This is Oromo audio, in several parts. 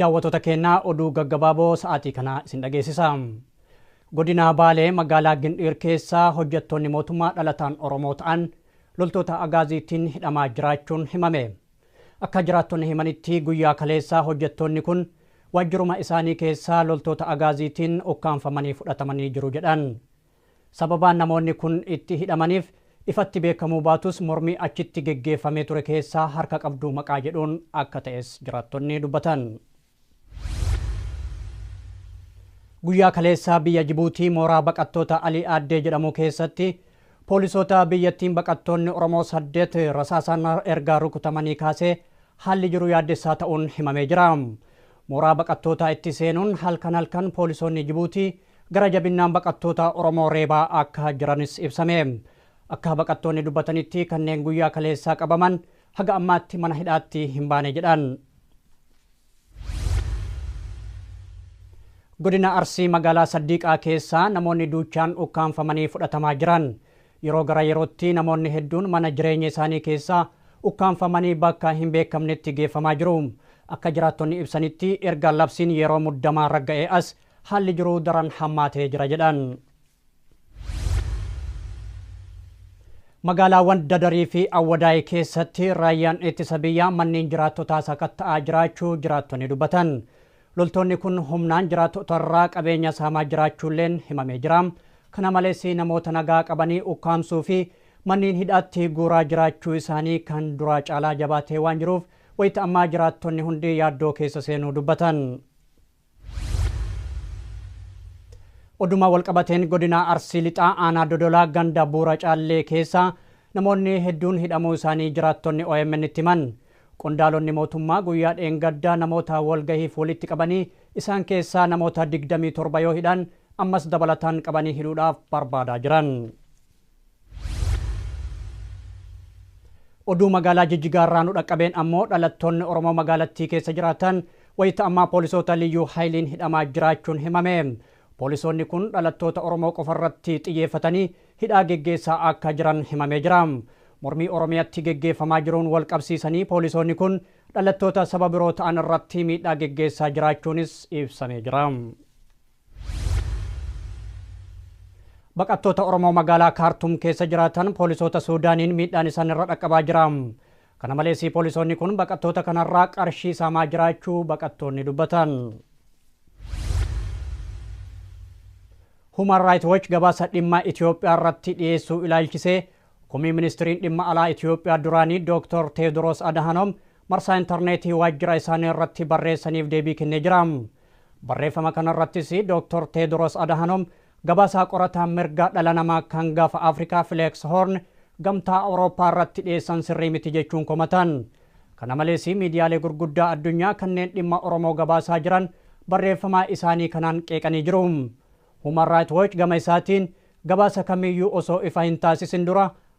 Daawwatoota keenya oduu gaggabaaboo sa'aatii kanaa isin dhageessisa. Godina Baalee magaalaa Gindhiir keessaa hojjettoonni mootummaa dhalataan Oromoo ta'an loltoota agaaziitiin hidhamaa jiraachuun himame. Akka jiraattonni himanitti guyyaa kaleessaa hojjettoonni kun waajjiruma isaanii keessaa loltoota agaaziitiin ukkaamfamanii fudhatamanii jiru jedhan. Sababaan namoonni kun itti hidhamaniif ifatti beekamuu baatus mormii achitti geggeeffamee ture keessaa harka qabdu maqaa jedhuun akka ta'es jiraattonni dubbatan. Guyyaa kaleessaa biyya Jibuutii mooraa baqattoota Alii Aaddee jedhamuu keessatti poolisoota biyyattiin baqattoonni Oromoo saddeet rasaasaan erga rukutamanii kaasee haalli jiru yaaddessaa ta'uun himamee jira. Mooraa baqattootaa itti seenuun halkan halkan poolisoonni Jibuutii Gara jabinnaan baqattoota Oromoo reebaa akka jiranis ibsame. Akka baqattoonni dubbatanitti kanneen guyyaa kaleessaa qabaman haga ammaatti mana hidhaatti hin baane jedhan. Godina Arsii magaalaa Saddiiqaa keessaa namoonni duuchaan ukkaamfamanii fudhatamaa jiran. Yeroo gara yerootti namoonni hedduun mana jireenya isaanii keessaa ukkaamfamanii bakka hin beekamnetti geeffamaa jiru. Akka jiraattonni ibsanitti erga labsiin yeroo muddamaa ragga'ee as Haalli jiru daran hammaatee jira jedhan. Magaalaawwan Dadarii fi Awwadaay keessatti raayyaan ittisa biyyaa manneen jiraattotaa sakatta'aa jiraachuu jiraattonni dubbatan. Loltoonni kun humnaan jiraattotarraa qabeenya saamaa jiraachuulleen himamee jira. Kana malees namoota nagaa qabanii ukkaamsuu fi manneen hidhaatti guuraa jiraachuu isaanii kan duraa caalaa jabaatee waan jiruuf wayita ammaa jiraattonni hundi yaaddoo keessa seenuu dubbatan. Odumaa walqabateen godinaa Arsii Lixaa aanaa Dodolaa ganda buura caallee keessa namoonni hedduun hidhamuu isaanii jiraattonni OMN itti himan. Qondaalonni mootummaa guyyaa dheengaddaa namoota walgahiif walitti qabanii isaan keessaa namoota 27 yoo hidhan ammas dabalataan qabanii hidhuudhaaf barbaadaa jiran. Oduu magaalaa Jijjigaa irraa nu dhaqqabeen ammoo dhalattoonni Oromoo magaalattii keessa jiraatan wayita ammaa poolisoota liyyuu hayiliin hidhamaa jiraachuun himame. Poolisoonni kun dhalattoota Oromoo qofa irratti xiyyeeffatanii hidhaa geggeessaa akka jiran himamee jira. Mormii Oromiyatti geggeeffamaa jiruun wal qabsiisanii poolisoonni kun dhalattoota saba biroo ta'an irratti miidhaa geggeessaa jiraachuunis ibsamee jira. Baqattoota Oromoo magaalaa Kaartuum keessa jiraatan poolisoota Suudaaniin miidhaan isaan irra dhaqqabaa jira. Kana malees poolisoonni kun baqattoota kanarraa qarshii saamaa jiraachuu baqattoonni dubbatan. Human Rights Watch gabaasa dhimma Itoophiyaa irratti dhiyeessuu ilaalchisee komii ministiriin dhimma alaa Itoophiyaa duraanii Dr. Teediroos Adahanoom marsaa intarneetii waajjira isaanii irratti barreessaniif deebii kennee jira. Barreeffama kanarrattis Doktor Teedros Adahanoom gabaasaa qorataan mirga dhala namaa kan gafa Afrikaa Fileeks Hoorn Gamtaa Awurooppaa irratti dhiyeessan sirrii miti jechuun komatan. Kana malees miidiyaalee gurguddaa addunyaa kanneen dhimma Oromoo gabaasaa jiran barreeffamaa isaanii kanaan qeeqanii jiru. Human Right Watch gama isaatiin gabaasa kamiiyyuu osoo ifa hin taasisin dura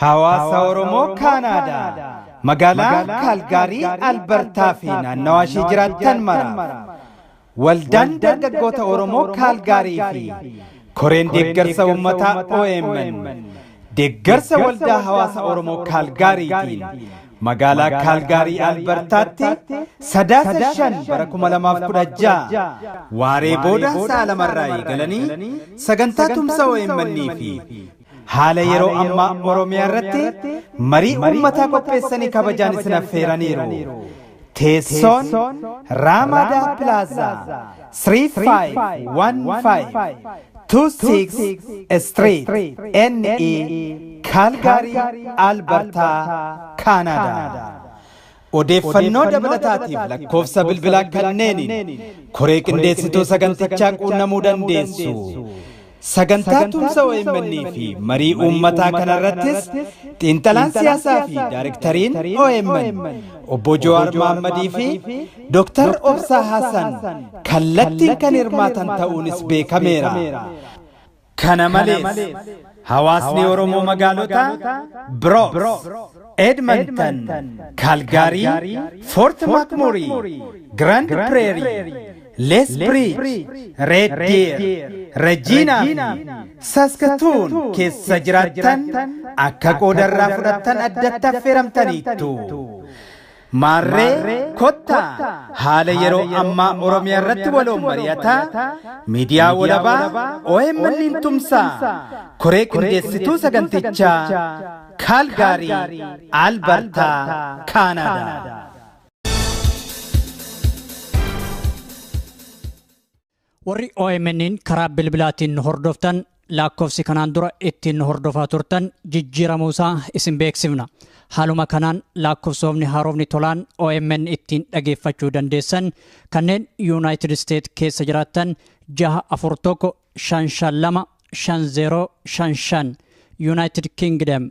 Hawaasa Oromoo Kaanaadaa magaalaa Kaalgaarii Albartaa fi naannawaa ishii jiraattan maraaf Waldaan Dargaggoota Oromoo Kaalgaarii fi Koreen Deeggarsa Uummataa OMN deeggarsa Waldaa Hawaasa Oromoo Kaalgaariitiin Magaalaa Kaalgaarii Albartaatti Sadaasa 5 bara 2016 waaree booda sa'a lamarraa eegalanii sagantaa tumsa OMN fi haala yeroo ammaa Oromiyaa irratti marii uummataa qopheessanii kabajaan isin affeeraniiru. Teessoon Ramada Plaza 351526 Street NE Calgary Alberta Canada. Odeeffannoo dabalataatiif lakkoofsa bilbilaa kanneeniin koree qindeessituu sagantichaa quunnamuu dandeessu. Sagantaa tumsa omn fi marii uummataa kanarrattis xiinxalaan siyaasaa fi daarektariin omn Obbo Jawaar Mohammadii fi Dr. Obsaa Hasan kallattiin kan hirmaatan ta'uunis beekameera. Kana malees, hawaasni Oromoo magaalota Brox, Edmonton, Calgary, Fort McMurray, Grand Prairie, Lees Biriij, Reed Diir, Rejiinaa fi Saskatuun keessa jiraattan akka qooda irraa fudhattan addatti affeeramtaniittu. Maarree kottaa haala yeroo ammaa Oromiyaa irratti waloon mari'ataa, miidiyaa walabaa OMN'n tumsaa, koree qindeessituu sagantichaa Kaalgaarii, Albartaa, Kaanaadaa. Warri OMN'n karaa bilbilaatiin nu hordoftan lakkoofsi kanaan dura ittiin nu hordofaa turtan jijjiiramuu isaa isin beeksifna. Haaluma kanaan lakkoofsoofni haarofni tolaan OMN ittiin dhageeffachuu dandeessan kanneen Yuunaayitid Isteet keessa jiraattan 641 552 5055 Yuunaayitid Kingdom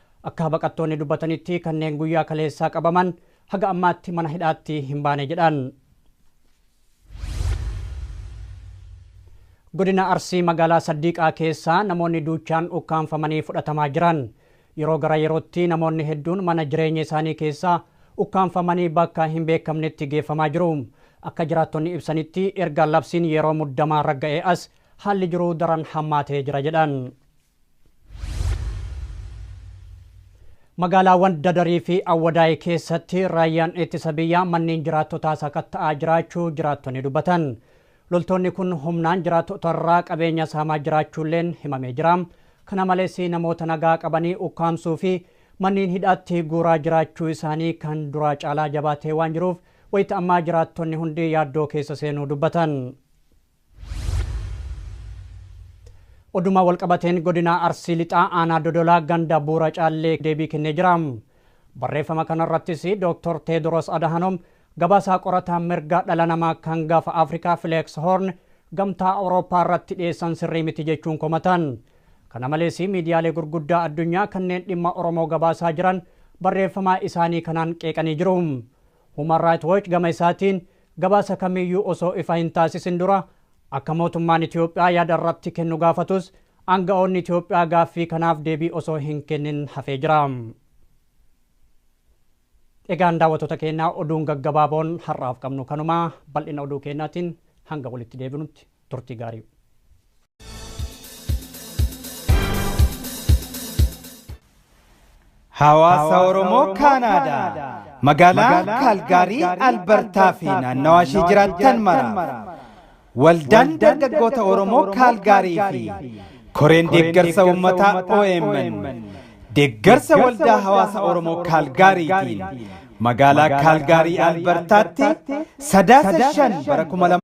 Akka baqattoonni dubbatanitti kanneen guyyaa kaleessaa qabaman haga ammaatti mana hidhaatti hin baane jedhan. Godina Arsii magaalaa Saddiiqaa keessaa namoonni duuchaan ukkaamfamanii fudhatamaa jiran. Yeroo gara yerootti namoonni hedduun mana jireenya isaanii keessaa ukkaamfamanii bakka hin beekamnetti geeffamaa jiru. Akka jiraattonni ibsanitti erga labsiin yeroo muddamaa ragga'ee as haalli jiruu daran hammaatee jira jedhan. Magaalaawwan Dadarii fi Awwadaay keessatti raayyaan ittisa biyyaa manneen jiraattotaa sakatta'aa jiraachuu jiraattonni dubbatan. Loltoonni kun humnaan jiraattotarraa qabeenya saamaa jiraachuulleen himamee jira. Kana malees namoota nagaa qabanii ukkaamsuu fi manneen hidhaatti guuraa jiraachuu isaanii kan duraa caalaa jabaatee waan jiruuf wayita ammaa jiraattonni hundi yaaddoo keessa seenuu dubbatan. Odumaa walqabateen godinaa Arsii Lixaa aanaa Dodolaa ganda buura caallee deebii kennee jira. Barreeffama kanarrattis Dooktor Teedros Adahanoom gabaasaa qorataa mirga dhala namaa kan gaafa Afrikaa Fileeks Hoorn gamtaa Awurooppaa irratti dhiyeessan sirrii miti jechuun komatan. Kana malees miidiyaalee gurguddaa addunyaa kanneen dhimma Oromoo gabaasaa jiran barreeffamaa isaanii kanaan qeeqanii jiru. Human Right Watch gama isaatiin Gabaasa kamiiyyuu osoo ifa hin taasisin dura akka mootummaan Itoophiyaa yaada irratti kennu gaafatus aanga'oonni Itoophiyaa gaaffii kanaaf deebii osoo hin kennin hafee jira. Egaan daawwattoota keenya oduun gaggabaaboon har'aaf qabnu kanuma. Bal'ina oduu keenyaatiin hanga walitti deebinutti. Turtii gaarii. Hawaasa Oromoo Kaanaadaa magaalaa Kaalgaarii Albartaa fi naannawaa ishee jiraattan mara waldaan dargaggoota Oromoo Kaalgaarii fi koreen deeggarsa uummataa OMN deeggarsa waldaa hawaasa Oromoo Kaalgaariitiin magaalaa Kaalgaarii Albartaatti sadaasa shan bara kuma lama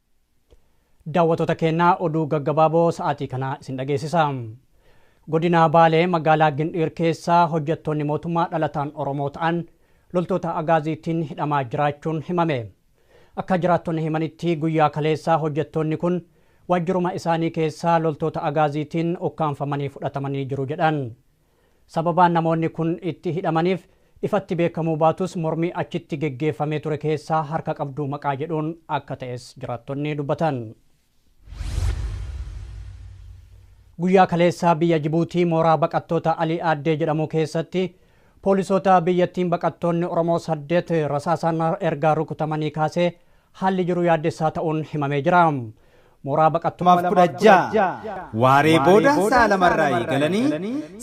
Daawwatoota keenya oduu gaggabaaboo sa'aatii kanaa isin dhageessisa. Godina Baalee magaalaa Gindhiir keessaa hojjettoonni mootummaa dhalataan Oromoo ta'an loltoota agaaziitiin hidhamaa jiraachuun himame. Akka jiraattonni himanitti guyyaa kaleessaa hojjettoonni kun waajjiruma isaanii keessaa loltoota agaaziitiin ukkaamfamanii fudhatamanii jiru jedhan. Sababaan namoonni kun itti hidhamaniif ifatti beekamuu baatus mormii achitti geggeeffamee ture keessaa harka qabdu maqaa jedhuun akka ta'es jiraattonni dubbatan. Guyyaa kaleessaa biyya Jibuutii mooraa baqattoota Alii Aaddee jedhamuu keessatti poolisoota biyyattiin baqattoonni Oromoo saddeet rasaasaan erga rukutamanii kaasee haalli jiru yaaddessaa ta'uun himamee jira. Mooraa baqattummaa 16 waaree booda sa'a lamarraa eegalanii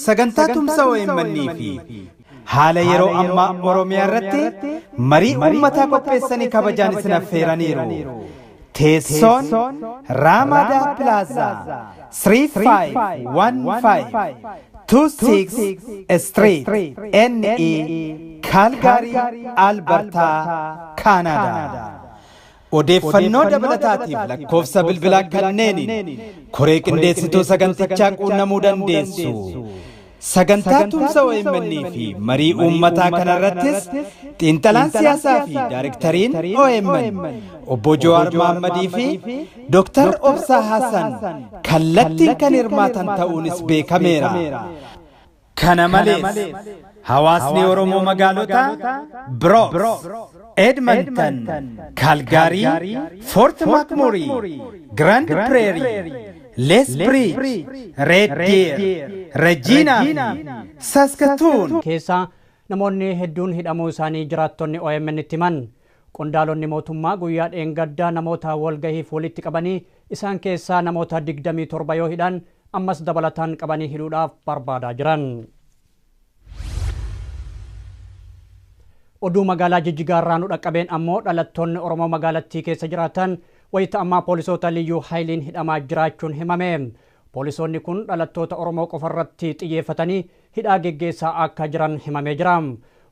sagantaa tumsa omn fi haala yeroo ammaa Oromiyaa irratti marii uummataa qopheessanii kabajaan isin affeeraniiru. Teessoon Raamaadaa Pilaazaa 3515 26 Street NE Kaalgaarii Albartaa Kaanaadaa. Odeeffannoo dabalataatiif lakkoofsa bilbilaa kanneeniin koree qindeessituu sagantichaa quunnamuu dandeessu. Sagantaa tumsa OMN fi marii uummataa kanarrattis xiinxalaan siyaasaa fi daarektariin OMN obbo Jawaar Mohammadii fi Dr. Obsaa Hasan kallattiin kan hirmaatan ta'uunis beekameera. Kana malees, hawaasni Oromoo magaalota Bronx, Edmonton, Calgary, Fort McMurray, Grand Prairie, Lethbridge, Red Deer, Regina fi Saskatoon keessaa namoonni hedduun hidhamuu isaanii jiraattonni OMN'tti himan. Qondaalonni mootummaa guyyaa dheengaddaa namoota walgahiif walitti qabanii isaan keessaa namoota 27 yoo hidhan ammas dabalataan qabanii hidhuudhaaf barbaadaa jiran. Oduu magaalaa Jijjigaa irraa nu dhaqqabeen ammoo dhalattoonni Oromoo magaalattii keessa jiraatan wayita ammaa poolisoota liyyuu hayiliin hidhamaa jiraachuun himame. Poolisoonni kun dhalattoota Oromoo qofarratti xiyyeeffatanii hidhaa geggeessaa akka jiran himamee jira.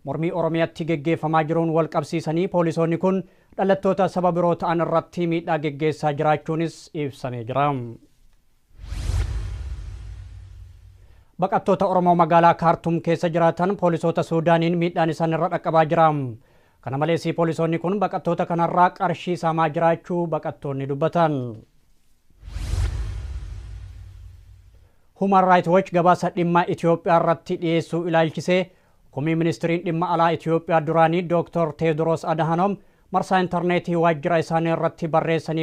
Mormii Oromiyatti geggeeffamaa jiruun walqabsiisanii poolisoonni kun dhalattoota saba biroo ta'an irratti miidhaa geggeessaa jiraachuunis ibsamee jira. Baqattoota Oromoo magaalaa Kaartum keessa jiraatan poolisoota Suudaaniin miidhaan isaan irra dhaqqabaa jira. Kana malees poolisoonni kun baqattoota kanarraa qarshii saamaa jiraachuu baqattoonni dubbatan. Human Right Watch gabaasa dhimma Itiyoophiyaa irratti dhiyeessuu ilaalchisee komii Ministiriin Dhimma Alaa Itiyoophiyaa duraanii Dooktor Teewdroos Adahanoom marsaa interneetii waajjira isaanii irratti barreessaniif